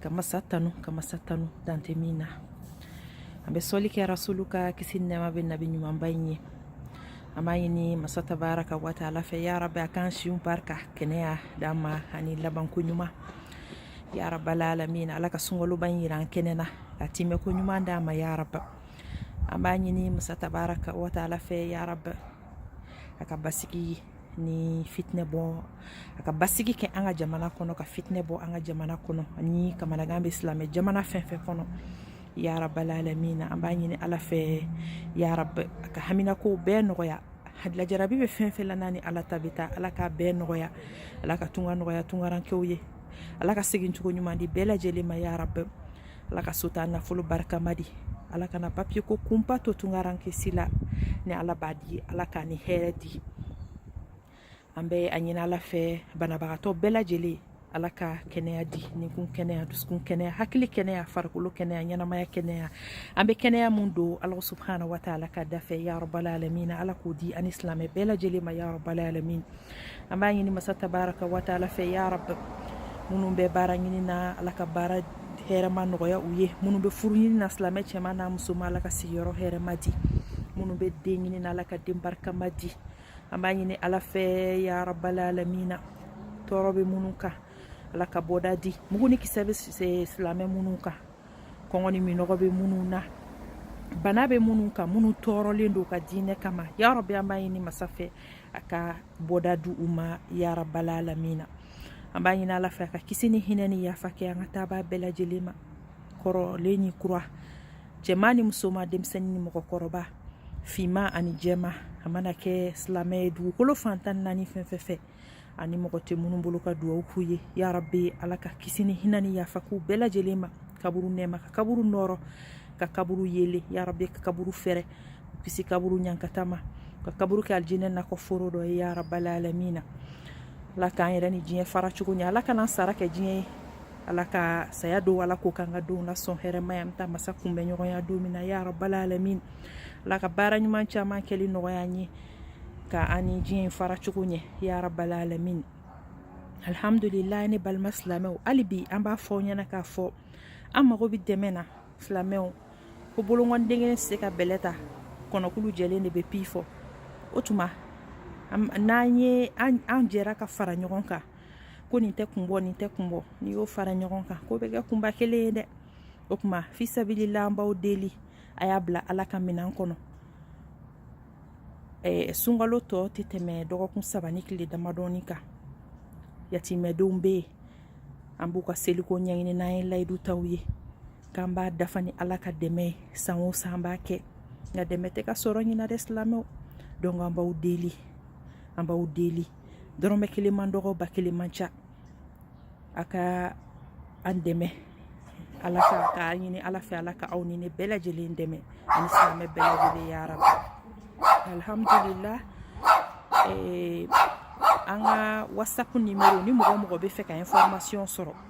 ka masa tanu ka masa tanu dan tɛ min na an bɛ sɔli kɛ rasulu kan kisi nɛɛma bɛ nabi ɲumanba in ye an b'a ɲini masa tabaraka wa taala fɛ ya rabi a k'an siw barika kɛnɛya d'an ma ani labanko ɲuman ya rabal alamin ala ka sunkaloba in yira an kɛnɛ na ka timɛ ko ɲuman d'an ma ya rabi an b'a ɲini masa tabaraka wa taala fɛ ya rabi a ka basigi ni fitinɛ bɔ a ka basigi kɛ an ka jamana kɔnɔ ka fitinɛ bɔ an ka jamana kɔnɔ ani kamanagan bɛ silamɛ jamana fɛn fɛn kɔnɔ ya rabal alamin an b'a ɲini ala fɛ ya rabi a ka haminakow bɛɛ nɔgɔya an jarabi bɛ fɛn fɛn la n'a ni ala ta bɛ taa ala k'a bɛɛ nɔgɔya ala ka tunga nɔgɔya tungarankɛw ye ala ka segin cogo ɲuman di bɛɛ lajɛlen ma ya rabi ala ka sotaa nafolo barikama di ala kana papiye ko kunpa to tungarankɛ si la ni ala b'a di ala k'a ni hɛrɛ di an bɛ a ɲini ala fɛ banabagatɔ bɛɛ lajɛlen ala ka kɛnɛya di ninkun kɛnɛya dusukun kɛnɛya hakili kɛnɛya farikolo kɛnɛya ɲɛnamaya kɛnɛya an bɛ kɛnɛya min dɔn ala subhana wa taala ka dafɛ ya rabal alamin ala k'o di an ni silamɛ bɛɛ lajɛlen ma ya rabal alamin an b'a ɲini masa tabaraka wa taala fɛ ya rabi minnu bɛ baara ɲini na ala ka baara hɛrɛma nɔgɔya u ye minnu bɛ furu ɲini na silamɛ cɛman n'a musoman ala ka sigiyɔrɔ hɛrɛma di minnu bɛ den ɲini na ala ka den barikama di an b'a ɲini ala fɛ ya rabal alamin tɔɔrɔ bɛ minnu kan ala ka bɔda di mugu ni kisɛ bɛ silamɛ minnu kan kɔngɔ ni minnɔgɔ bɛ minnu na bana bɛ minnu kan minnu tɔɔrɔlen don ka diinɛ kama ya rabi an b'a ɲini masa fɛ a ka bɔda di u ma ya rabal alamin an b'a ɲini ala fɛ a ka kisi ni hinɛ ni yafa kɛ an ka taabaa bɛɛ lajɛlen ma kɔrɔlen ni kura cɛman ni musoman denmisɛnnin ni mɔgɔkɔrɔba finman ani jɛman a mana kɛ silamɛ ye dugukolo fan tan ni naani fɛn fɛn fɛ ani mɔgɔ tɛ minnu bolo ka dugawu k'u ye ya rabi ala ka kisi ni hinɛ ni yafa k'u bɛɛ lajɛlen ma kaburu nɛɛma ka kaburu nɔɔrɔ ka kaburu yeelen ya rabi ka kaburu fɛrɛ kisi kaburu ɲankata ma ka kaburu kɛ alijinɛ nakɔ foro dɔ ye ya rabal alamin ala k'an yɛrɛ ni diɲɛ fara cogo ɲɛ ala kan'an sara kɛ diɲɛ ye ala ka saya don ala ko k'an ka denw na sɔn hɛrɛ ma an bɛ taa masa kunbɛn ɲɔgɔnya don min na ya rabal alamin ala ka baara ɲuman caman kɛli nɔgɔya an ye ka an ni diɲɛ fara cogo ɲɛ ya rabal alamin alhamdulilayi ne balima silamɛw hali bi an b'a fɔ aw ɲɛ na k'a fɔ an mago bɛ dɛmɛ na silamɛw ko bolonkɔni den kelen tɛ se ka bɛlɛ ta kɔnɔkulu jɛlen de bɛ pi fɔ o tuma n'an ye an jɛra ka fara ɲɔgɔn kan ko nin tɛ kun bɔ nin tɛ kun bɔ n'i y'o fara ɲɔgɔn kan k'o bɛ kɛ kunba kelen ye dɛ o tuma fisabilila an b'aw deli a y'a bila ala ka minɛn kɔnɔ ɛɛ sunkalo tɔ tɛ tɛmɛ dɔgɔkun saba ni tile damadɔnin kan yatimɛdenw bɛ yen an b'u ka seliko ɲɛɲini n'an ye layidu ta u ye k'an b'a dafa ni ala ka dɛmɛ ye san o san an b'a kɛ nka dɛmɛ tɛ ka sɔrɔ ɲinan dɛ silamɛw donc an b'aw deli an b'aw deli dɔrɔmɛ kelen man dɔgɔ ba kelen man ca a ka an dɛmɛ ala ka k'a ɲini ala fɛ ala ka aw ni ne bɛɛ lajɛlen dɛmɛ ani silamɛ bɛɛ lajɛlen ya rab alhamdulillah eh, an ka whatsapp nimero ni mɔgɔ o mɔgɔ b'a fɛ ka information sɔrɔ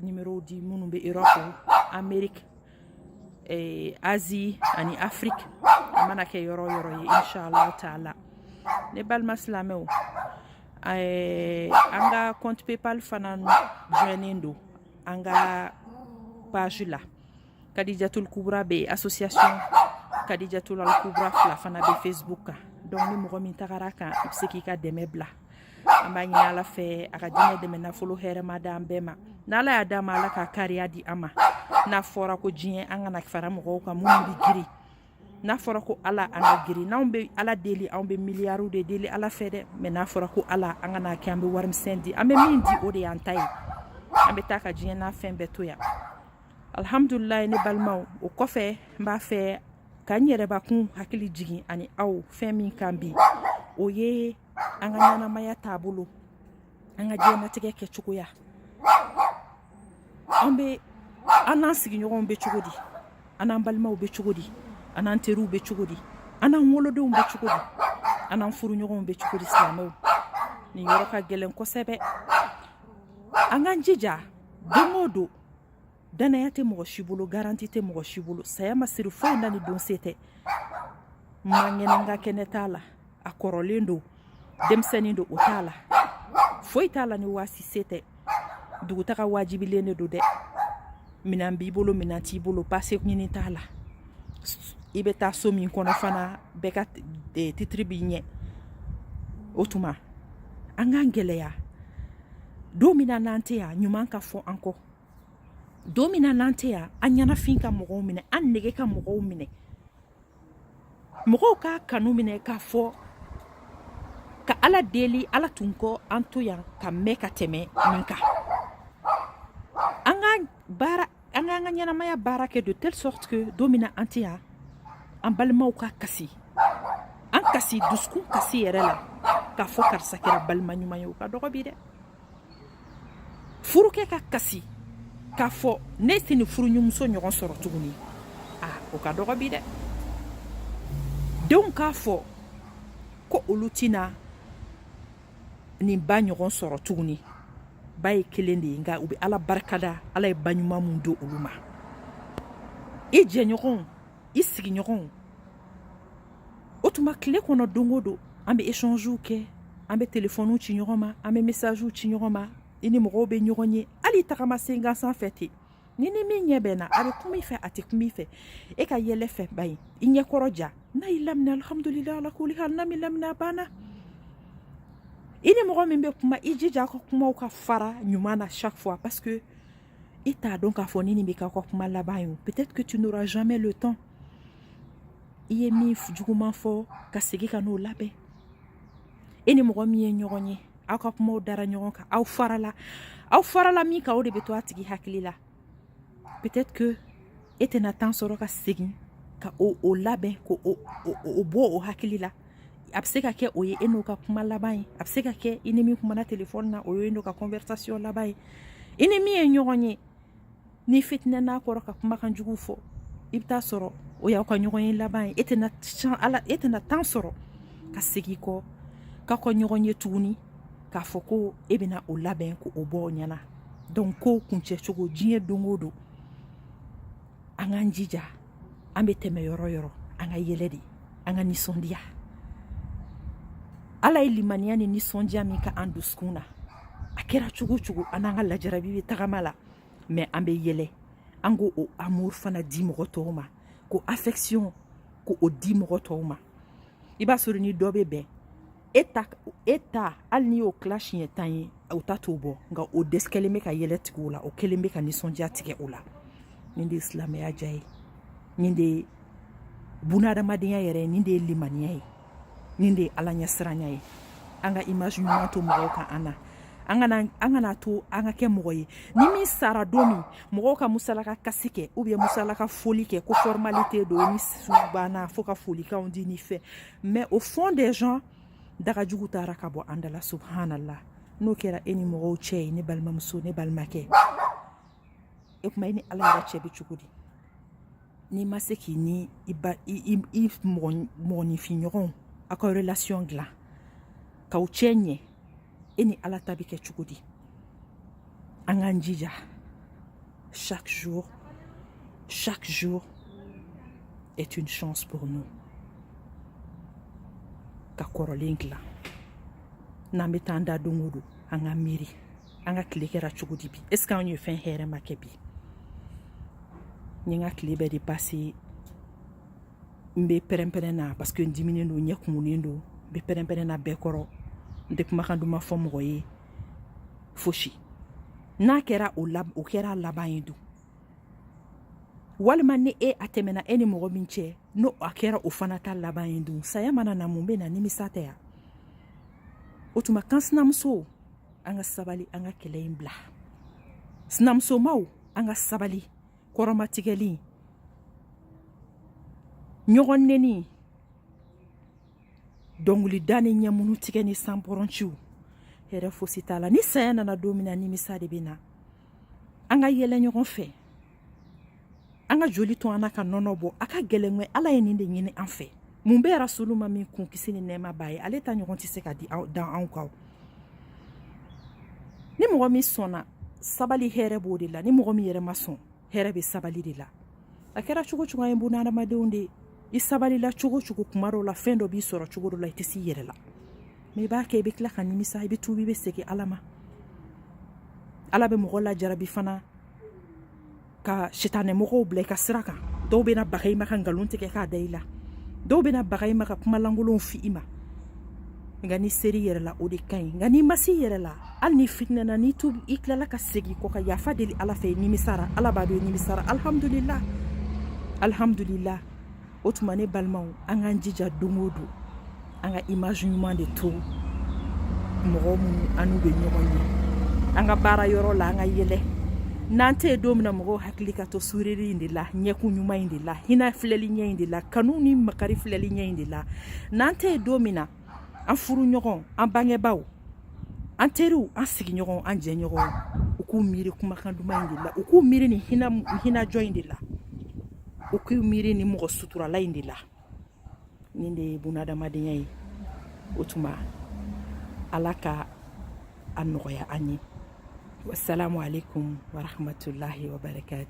numérow di minnu bɛ Europe Amérique eh, Asie ani Afrique a mana kɛ yɔrɔ o yɔrɔ ye inshallah taala ne balima silamɛw eh, an ka compte PayPal fana joinnen don an ka page la. kadijatul kubra bɛ association kadijatul al kubra fila fana bɛ facebook kan donc ni mɔgɔ min tagara a kan i bɛ se k'i ka dɛmɛ bila an b'a ɲini ala fɛ a ka diinɛ dɛmɛ nafolo hɛrɛma di an bɛɛ ma n'ala y'a d'an ma ala ka kariya di an ma n'a fɔra ko diɲɛ an kana fara mɔgɔw kan minnu bɛ girin n'a fɔra ko ala an ka girin n'anw bɛ ala deli anw bɛ miliyariw de deli ala fɛ dɛ mais n'a fɔra ko ala an kana kɛ an bɛ warimisɛn di an bɛ min di o de y'an ta ye an bɛ taa ka diɲɛ n'a fɛn bɛɛ to yan alihamdulilayi ne balimaw o kɔfɛ n b'a fɛ ka n yɛrɛbakun hakili jigin ani aw fɛn min kan bi o ye an ka ɲɛnamaya taabolo an ka diɲɛnatigɛ kɛcogoya an bɛ an n'an sigiɲɔgɔnw bɛ cogo di an n'an balimaw bɛ cogo di an n'an teriw bɛ cogo di an n'an wolodenw bɛ cogo di an n'an furuɲɔgɔnw bɛ cogo di silamɛw nin yɔrɔ ka gɛlɛn kosɛbɛ an k'an jija don o don Danaya tɛ mɔgɔ si bolo garanti tɛ mɔgɔ si bolo saya ma siri foyi na ni don se tɛ man kɛnɛ n ka kɛnɛ t'a la a kɔrɔlen don denmisɛnnin don o t'a la foyi t'a la ni waati se tɛ dugutaga wajibilen de don dɛ minɛn b'i bolo minɛn t'i bolo pase ɲini t'a la i bɛ taa so min kɔnɔ fana bɛɛ ka eh, titiri b'i ɲɛ o tuma an k'an gɛlɛya don min na n'an tɛ yan ɲuman ka fɔ an kɔ don min na n'an tɛ yan an ɲɛnafin ka mɔgɔw minɛ an nege ka mɔgɔw minɛ mɔgɔw k'a kanu minɛ k'a fɔ ka ala deli ala tun kɔ an to yan ka mɛn ka tɛmɛ nin kan an ka baara an k'an ka ɲɛnamaya baara kɛ de telle sorte que don min na an tɛ yan an balimaw ka kasi an kasi dusukun kasi yɛrɛ la k'a fɔ karisa kɛra balima ɲuman ye o ka dɔgɔ bi dɛ furukɛ ka kasi k'a fɔ ne tɛ nin furuɲɔgɔnmuso ɲɔgɔn sɔrɔ tuguni a o ka dɔgɔ bi dɛ denw k'a fɔ ko olu tɛna nin ba ɲɔgɔn sɔrɔ tuguni ba ye kelen de ye nka u bɛ ala barikada ala ye ba ɲuman min don olu ma i jɛɲɔgɔnw i sigiɲɔgɔnw o tuma tile kɔnɔ don o don an bɛ échangew kɛ an bɛ telefɔniw ci ɲɔgɔn ma an bɛ messagew ci ɲɔgɔn ma i ni mɔgɔw bɛ ɲɔgɔn ye hali tagama sen gansan fɛ ten n'i ni min ɲɛ bɛnna a bɛ kuma i fɛ a tɛ kuma i fɛ e ka yɛlɛ fɛ ba ye i ɲɛ kɔrɔ ja n'a y'i lamina alihamudulila ala kuli hali n'a m'i lamina a banna i ni mɔgɔ min bɛ kuma i jija a ka kumaw ka fara ɲuman na chaque fois parce que i t'a dɔn k'a fɔ ni nin bɛ k'aw ka kuma laban ye peut-être que tu n'auras jamais le temps i ye min juguman fɔ ka segin ka n'o labɛn e ni mɔgɔ min ye ɲɔgɔn ye aw ka kumaw dara ɲɔgɔn kan aw farala aw farala min kan o de bɛ to a tigi hakili la peut-être que e tɛna temps sɔrɔ ka segin ka o labɛn k'o bɔ o hakili la a bɛ se ka kɛ o ye e n'o ka kuma laban ye a bɛ se ka kɛ i ni min kumana telefɔni na o ye e n'o ka conversation laban ye i ni min ye ɲɔgɔn ye n'i fitinɛna a kɔrɔ ka kumakan jugu fɔ i bɛ taa sɔrɔ o y'aw ka ɲɔgɔn ye laban ye e tɛna can ala e tɛna temps sɔrɔ ka segin kɔ k'aw ka ɲɔgɔn ye tuguni k'a fɔ ko e bɛna o labɛn k'o bɔ o ɲɛna donc kow kuncɛ cogo diɲɛ don o don an k'an jija an bɛ tɛmɛ yɔrɔ yɔrɔ an ka yɛlɛ de an ka nisɔndiya ala ye limaniya ni nisɔndiya min kɛ an dusukun na a kɛra cogo cogo an n'an ka lajarabi bɛ tagama la mais an bɛ yɛlɛ an k'o amour fana di mɔgɔ tɔw ma k'o affection k'o di mɔgɔ tɔw ma i b'a sɔrɔ ni dɔ bɛ bɛn e ta hali n'i y'o tila siɲɛ tan ye o ta t'o bɔ nka o dɛsɛ kɛlen bɛ ka yɛlɛ tigɛ o la o kɛlen bɛ ka nisɔndiya tigɛ o la nin de ye silamɛya diya ye nin de ye bunahadamadenya yɛrɛ ye nin de ye limaniya ye nin de ye ala ɲɛsiranya ye an ka image ɲuman to mɔgɔw kan an na an kana an kan'a to an ka kɛ mɔgɔ ye ni min sara don min mɔgɔw ka musalaka kasi kɛ ou bien musalaka foli kɛ ko formalité don ni su banna fo ka folikanw di ni fɛn mais au fond des gens dagajugu taara ka bɔ an dala subhanallah n'o kɛra e ni mɔgɔw cɛ ye ne balimamuso ne balimakɛ e kuma e ni ala yɛrɛ cɛ bɛ cogo di n'i ma se k'i ni i mɔgɔninfinɲɔgɔnw aw ka relation dilan k'aw cɛ ɲɛ e ni ala ta bɛ kɛ cogo di an k'an jija chaque jour chaque jour est une chance pour nous ka kɔrɔlen dilan n'an bɛ taa an da don o don an ka miiri an ka tile kɛra cogo di bi est ce que anw ye fɛn hɛrɛma kɛ bi n ye n ka tile bɛɛ de passé n bɛ pɛrɛnpɛrɛn na parce que n diminen don n ɲɛ kumunen don n bɛ pɛrɛnpɛrɛn na bɛɛ kɔrɔ n tɛ kumakan duman fɔ mɔgɔ ye fosi n'a kɛra o la o kɛra laban ye dun walima ni e a tɛmɛna e ni mɔgɔ min cɛ n'o a kɛra o fana ta laban ye dun saya mana na mun bɛ na nimisa tɛ wa o tuma kan sinamuso an ka sabali an ka kɛlɛ in bila sinamusomaw an ka sabali kɔrɔmatigɛli ɲɔgɔn neni dɔnkilida ni ɲɛmunu tigɛ ni sanpɔrɔnciw hɛrɛ fosi t'a la ni saya nana don min na nimisa de bɛ na an ka yɛlɛ ɲɔgɔn fɛ an ka joli to an na ka nɔnɔ bɔ a ka gɛlɛn kɛ ala ye nin de ɲini an fɛ mun bɛ yen rasulu ma min kun kisi ni nɛɛma b'a ye ale ta ɲɔgɔn tɛ se ka di da anw kan ni mɔgɔ min sɔnna sabali hɛrɛ b'o de la ni mɔgɔ min yɛrɛ ma sɔn hɛrɛ bɛ sabali de la a kɛra cogo o cogo an ye bunadamadenw de i sabalila cogo o cogo kuma dɔw la fɛn dɔ b'i sɔrɔ cogo dɔ la i tɛ s'i yɛrɛ la mais i b'a kɛ i bɛ tila ka nimisa i bɛ tuubi i bɛ segin ala ma ala bɛ mɔgɔ lajarabi fana ka sitanɛmɔgɔw bila i ka sira kan dɔw bɛna baga i ma ka nkalon tigɛ k'a da i la dɔw bɛna baga i ma ka kuma lankolonw f'i ma nka n'i ser'i yɛrɛ la o de ka ɲi nka n'i ma s'i yɛrɛ la hali n'i fitinɛna n'i tu i tilala ka segin kɔ ka yafa deli ala fɛ i nimisara ala b'a dɔn i nimisara alihamudulila alihamudulila o tuma ne balimaw an k'an jija don o don an ka image ɲuman de to mɔgɔ minnu an n'u bɛ ɲɔgɔn ye an ka baara yɔrɔ la an ka yɛlɛ n'an tɛ yen don min na mɔgɔw hakili ka to sourire in de la ɲɛkun ɲuman in de la hinɛ filɛli ɲɛ in de la kanu ni makari filɛli ɲɛ in de la n'an tɛ yen don min na an furuɲɔgɔn an bangebaaw an teriw an sigiɲɔgɔn an jɛɲɔgɔn u k'u miiri kumakan duman in de la u k'u miiri nin hinɛ hinɛjɔ in de la u k'u miiri nin mɔgɔ suturala in de la nin de ye bunadamadenya ye o tuma ala ka a nɔgɔya an ye wasalamu aleykum warahmatulahi wabarakatu